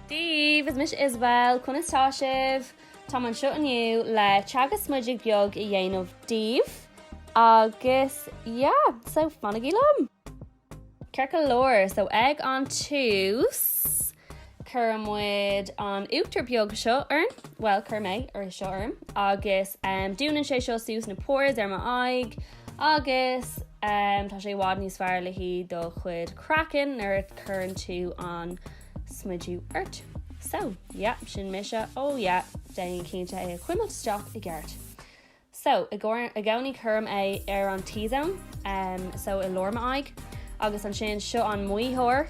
Daoibh, is mise Isabelle, conas tá sibh? Táim anseo inniu le teagasc smididh beag a dhéanamh daoibh agus yeah, so fanaigí liom! Ceart go leor, so ag an tús cuireann muid an uachtar beag seo orainn, bhuel cuirim é seo orm, agus dúnann sé seo suas na pores ar m'aghaidh, agus tá sé i bhfad níos fearr le haghaidh do chuid craiceann nuair a cuireann tú an smideadh ort. So, yeah, sin mise, oh yeah, déan cinnte é a chuimilt isteach i gceart. So, i gcónaí cuirim é ar an T-zone, so i lár m'aghaidh, agus ansin seo an maothóir,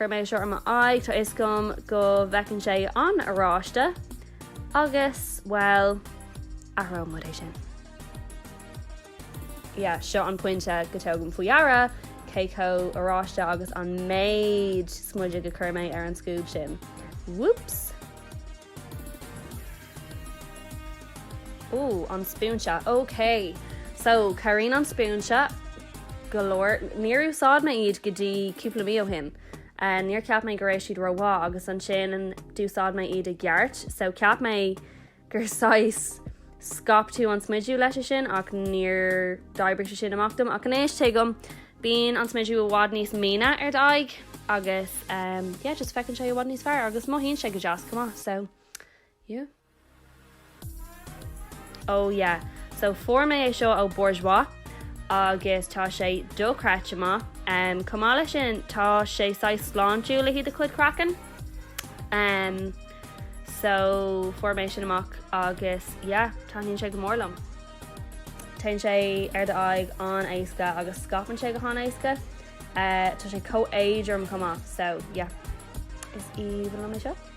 Cuirim é seo ar m'aghaidh, tá fhios agam go bhfeiceann sé an-oráiste agus, bhuel, athróidh muid é sin. Yeah, seo an pointe go dtugaim faoi dheara cé chomh oráiste agus an méid smididh a chuir mé ar an scuab sin. Whoops! Ooh an spúinse ok so cabhraíonn an spúinse go leor níor úsáid mé iad go dtí cúpla mí ó shin eh níor cheap mé go raibh siad ró-mhaith agus ansin d'úsáid mé iad i gceart so cheap mé gur saghas scaip tú an smideadh leis é sin ach níor d'oibrigh sé sin amach dom ach anois tuigim bíonn an smideadh i bhfad níos míne ar d'aghaidh agus eh yeah just feiceann sé i bhfad níos fearr agus mothaíonn sé go deas chomh maith so. yeah. Oh yeah. So fuair mé é seo ó Bourjois agus tá sé do-chreidte maith. Umm chomh maith leis sin tá sé saghas sláintiúil le haghaidh do chuid craiceann. Umm so fuair mé sin amach agus yeah taitníonn sé go mór liom. Téann sé ar d'aghaidh an-éasca agus scaipeann sé go han-éasca. Eh tá sé chomh éadrom chomh maith so yeah is aoibhinn liom é seo.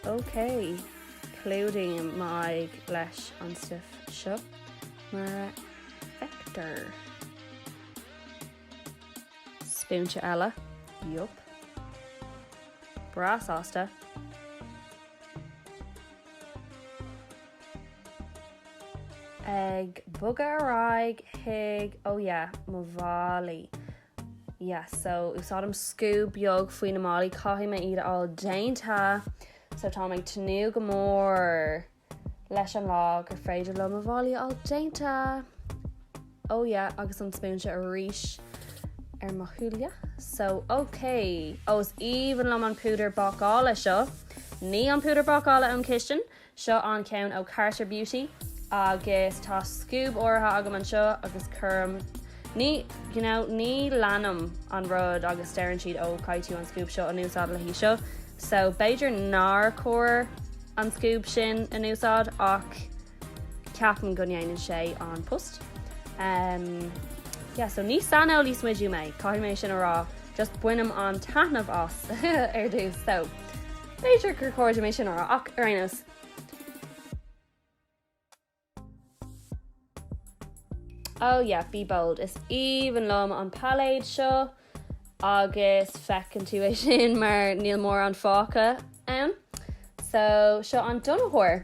OK, clúdaím m'aghaidh leis an stuif seo mar a fheictear. Spúinse eile, yup. Breá sásta, ag bogadh ar aghaidh chuig ó yeah mo mhalaí. Yes, so úsáidim scuab beag faoi na malaí, caithfidh mé iad a fháil déanta, so táim ag tnúth go mór leis an lá gur féidir liom mo mhalaí a fháil déanta. Oh yeah, agus an spúinse arís ar mo shúile, so ok. Ó, is aoibhinn liom an púdar bácála seo, ní an púdar bácála ón chistin, Seo an ceann ó Carter Beauty agus tá scuab áirithe agam anseo agus cuirim ní you know ní leanaim an rud a ndeireann siad ó caithfidh tú an scuab seo a úsáid le haghaidh seo so b'fhéidir nár chóir an scuab sin a úsáid ach ceapaim go ndéanann sé an post um yeah so ní saineolaí smididh mé caithfidh mé sin a rá just bainim an-taitneamh as ar dtús so B'fhéidir gur chóir dom é sin a rá ach ar aon nós. Oh yeah, be bold. Is aoibhinn liom an pailéad seo agus feiceann tú é sin mar níl mórán fágtha ann. So seo an donnaitheoir.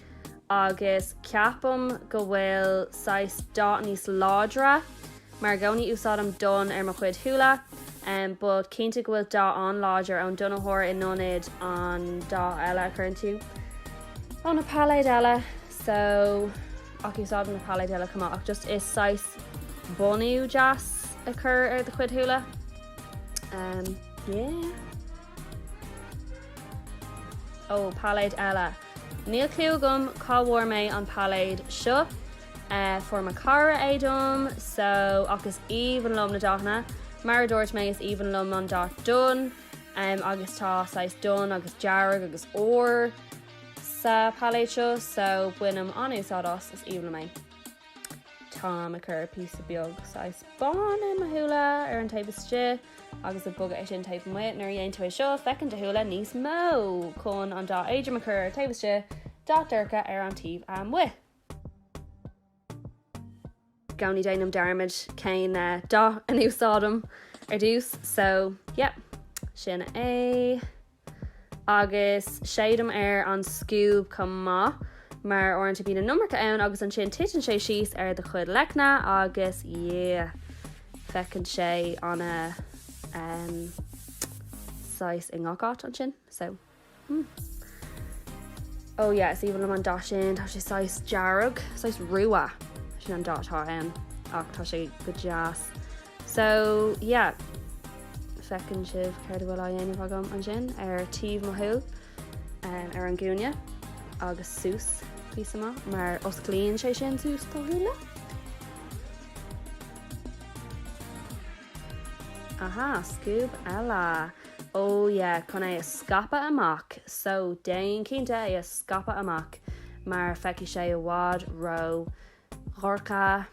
agus ceapaim go bhfuil saghas dath níos láidre mar i gcónaí úsáidim donn ar mo chuid shúile but cinnte go bhfuil dath an-láidir ón donnaitheoir in ionad an dath eile a chur ann tú ó na pailéid eile so ach úsáidim na pailéid eile chomh maith ach just is saghas bunú deas a chur ar do chuid shúile yeah. Ó, pailéid eile. Níl cliú agam cá bhfuair mé an pailéad seo, fuair mo chara é dom, so, ach is aoibhinn liom na dathanna. Mar a dúirt mé, is aoibhinn liom an dath donn agus tá saghas donn agus dearg agus ór sa pailéad seo, so bainim an-úsáid as, is aoibhinn liom é. Táim chun píosa beag saghas bán a chur ar mo shúile ar an taobh istigh agus ag bogadh é sin taobh amuigh. Nuair a dhéann tú é seo, feiceann do shúile níos mó. Chun an dath éadrom a chur ar an taobh istigh, dath dorcha ar an taobh amuigh. I gcónaí déanaim dearmad cén dath a n-úsáidim ar dtús so yeah, sin é. agus séidim ar an scuab chomh maith mar uaireanta bíonn an iomarca ann agus ansin titeann sé síos ar do chuid leicne agus yeah feiceann sé an umm saghas i ngach áit ansin so mm oh yeah is aoibhinn liom an dath sin tá sé saghas dearg saghas rua sin an dath atá ann ach tá sé go deas. So, yeah. Feiceann sibh cad a bhfuil á dhéanamh agam ansin, ar taobh mo shúl, ar an gcúinne, agus suas is amach, mar osclaíonn sé sin suas do shúile. Aha, scuab eile. Oh yeah, chun é a scaipeadh amach. So, déan cinnte é a scaipeadh amach, mar feicfidh sé i bhfad ró dhorcha.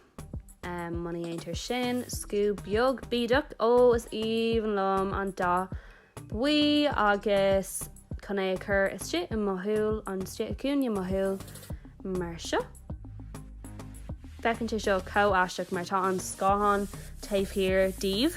Muna dhéantar sin, scuab beag bídeach, ó, is aoibhinn liom an dath buí agus chun é a chur istigh i mo shúil, an istigh i gcúinne mo shúil mar seo. Feiceann sé seo chomh haisteach mar tá an scáthán taobh thiar díbh.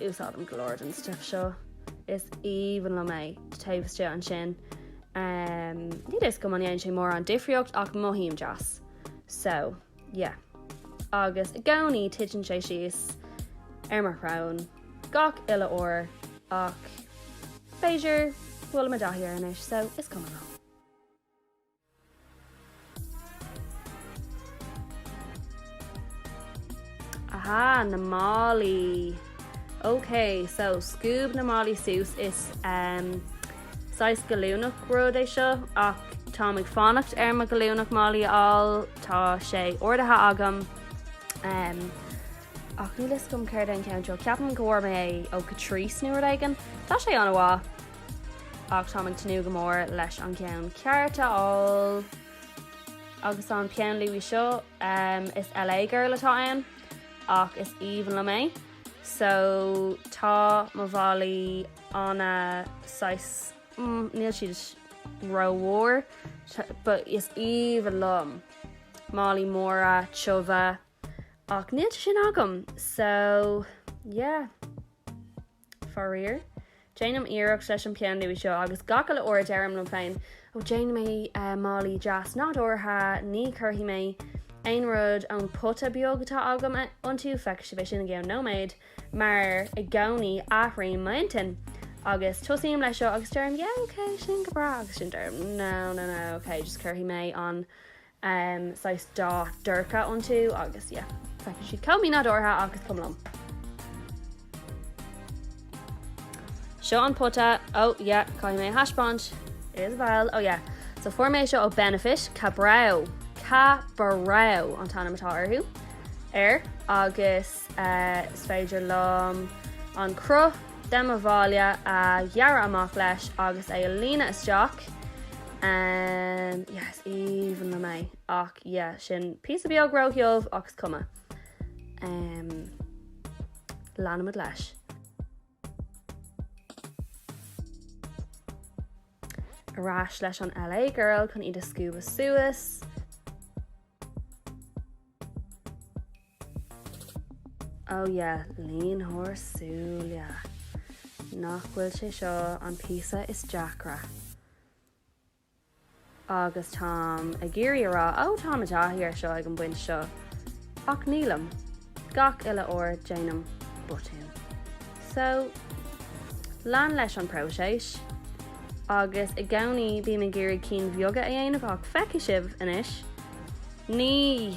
Úsáidim go leor den stuif seo. Is aoibhinn liom é. Taobh istigh ansin, níl 'fhios agam an ndéanann sé mórán difríocht ach mothaím deas. So, yeah. Agus i gcónaí titeann sé síos ar mo shrón gach uile uair ach b'fhéidir go bhfuil mé i dtaithí air anois so is cuma liom. Aha, na malaí. Ok, so scuab na malaí suas, is ehm, saghas gallúnach rud é seo, ach táim ag fanacht ar mo gallúnach malaí a fháil, tá sé ordaithe agam, ehm, ach níl 'fhios agam céard é an ceann seo, ceapaim go bhfuair mé é ó Catrice nó rud éigin, tá sé ana mhaith. ach táim ag tnúth go mór leis an gceann ceart a fháil agus an peann luaidhe seo um, is LA girl atá ann ach is aoibhinn liom é so tá mo mhalaí ana saghas mm, níl siad rómhór but is aoibhinn liom malaí móra tiubha ach níl sin agam so yeah Faraor, déanaim iarracht leis an bpeann luaidhe seo agus gach uile uair deirim liom féin, 'Ó déanfaidh mé malaí deas nádúrtha, ní chuirfidh mé aon rud ón bpota beag atá agam iontu, feicfidh sibh é sin i gceann nóiméad', mar i gcónaí athraím m'intinn agus tosaím leis seo agus deirim 'Yeah, ok, sin go breá', agus ansin deirim 'No, no, no, ok, just cuirfidh mé an um, saghas dath dorcha iontu agus yeah. Feiceann siad chomh mínádúrtha ach is cuma liom. Seo an pota, oh yeah, caithfidh mé a thaispeáint. Is bhall, oh yeah. So fuair mé seo ó Benefit, Ka-Brow, Ka-Brow an t-ainm atá orthu, air, agus Is féidir liom an cruth de mo mhalaí a ghearradh amach leis agus é a líonadh isteach. Umm, yeah, is aoibhinn liom é. Ach yeah, sin píosa beag róthiubh ach is cuma. Umm, leanfaimid leis. Ar ais leis an LA Girl chun iad a scuabadh suas. Oh yeah, línitheoir súile. Nach bhfuil sé seo an píosa is deacra? Agus táim ag iarraidh a rá, oh táim i dtaithí air seo ag an bpoint seo, ach nílim, gach uile uair déanaim botún. So, lean leis an próiseas. Agus i gcónaí bím ag iarraidh cinn bheaga a dhéanamh ach feicfidh sibh anois, ní!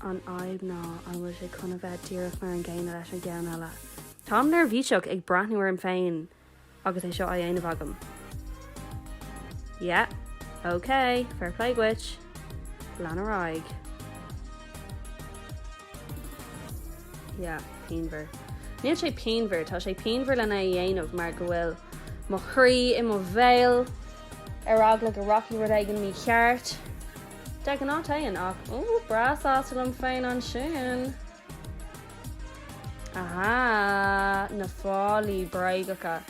an fhadhb ná an bhfuil sé chun a bheith díreach mar an gcéanna leis an gceann eile. Táim neirbhíseach ag breathnú orm féin agus é seo á dhéanamh agam. Yeah. OK, fair play dhuit. Lean ar aghaidh. Yeah, pianmhar. Níl sé pianmhar, tá sé pianmhar len é a dhéanamh mar go bhfuil mo chroí i mo bhéal. Ar eagla go rachaidh rud éigin mícheart. De ghnáth téann ach ooh breá sásta liom féin ansin. Aha! Na fabhraí bréagacha.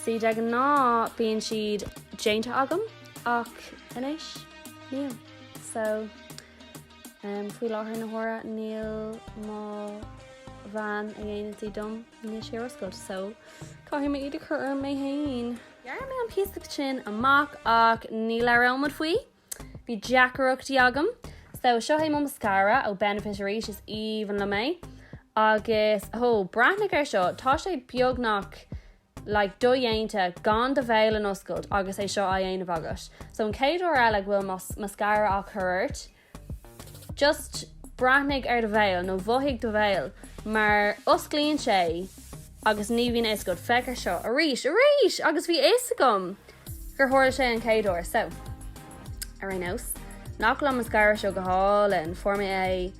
Sea, de ghnáth bíonn siad déanta agam ach anois níl. So, um, faoi láthair na huaire níl mo bhean a dhéanann sí dom anois ar oscailt so caithfidh mé iad a chur orm mé féin. Ghearr mé an píosa sin amach ach ní labhróimid faoi. Bhí deacrachtaí agam. So, seo é mo mascara ó Benefit arís, is aoibhinn liom é. Agus, oh, breathnaigh ar seo, tá sé beagnach like do-dhéanta gan do bhéal a n-oscailt agus é seo á dhéanamh agat. So an chéad uair eile go bhfuil mascara á chur ort, Just breathnaigh ar do bhéal, nó mhothaigh do bhéal, mar osclaíonn sé agus ní bhíonn a fhios agat. Féach air seo arís arís agus bhí a fhios agam gur tharla sé an chéad uair. So, ar aon nós, nach bhfuil an mascara seo go hálainn, fuair mé é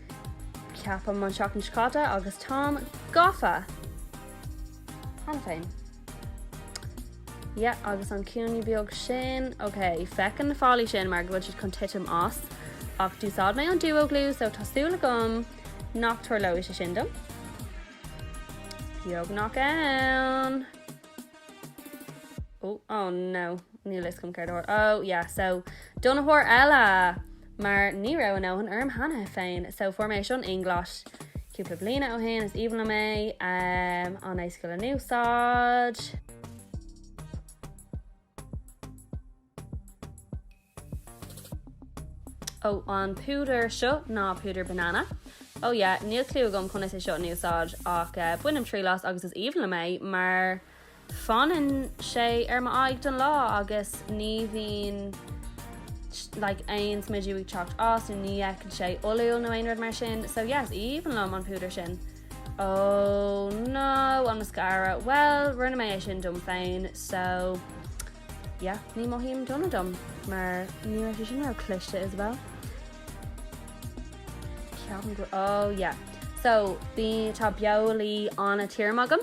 ceapaim an seachtain seo caite agus táim gafa! Cheana féin. Yeah, agus an cúinne beag sin. Ok, féach ar na fabhraí sin mar go bhfuil siad chun titim as. Ach d'úsáid mé an duo glue, so tá súil agam nach tarlóidh sé sin dom. Beagnach ann. Oh, oh no. Níl a fhios agam céard a thabhairt. Oh, yeah, so donnaitheoir eile! Mar ní raibh a dhóthain orm cheana féin, so foundation Inglot cúpla bliana ó shin, is aoibhinn liom é, an-éasca le n-úsáid. Ó, an púdar seo ná púdar banana. Ó yeah, níl cliú agam conas é seo a úsáid, ach bainim triail as agus is aoibhinn liom é, mar. fanann sé ar m'aghaidh don lá agus ní bhíonn like aon smidiú ag teacht as so ní fhéachann sé olúil nó aon rud mar sin so yeah is aoibhinn liom an púdar sin oh no an mascara well rinne mé é sin dom féin so yeah ní mothaím dona dom mar ní raibh sé sin ró cliste as well ceapaim go oh yeah so bíonn tá beolaí ana tirim agam.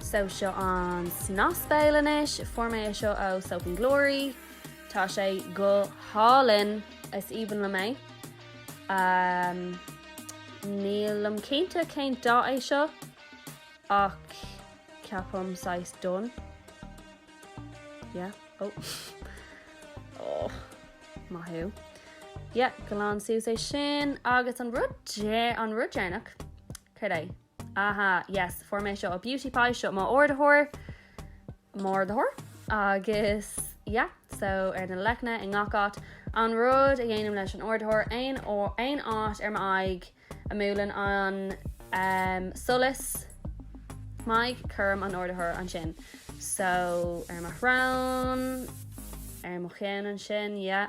So seo an snas béil anois, fuair mé é seo ó Soap and Glory, tá sé go hálainn, is aoibhinn liom é. Umm nílim cinnte cén dath é seo ach ceapaim saghas donn. Yeah, oh. oh, maith thú. Yeah, galánta suas é sin agus an rud dé, an rud deireanach, céard é? Aha, yes, fuair mé é seo ó Beauty Pie, seo mo ardaitheoir, m'ardaitheoir, agus yeah, so ar na leicne i ngach áit, an rud a dhéanaim leis an ardaitheoir, aon, aon áit ar m'aghaidh a mbuaileann an um solas m'aghaidh, cuirim an ardaitheoir ansin. So, ar mo shrón, ar mo cheann ansin, yeah.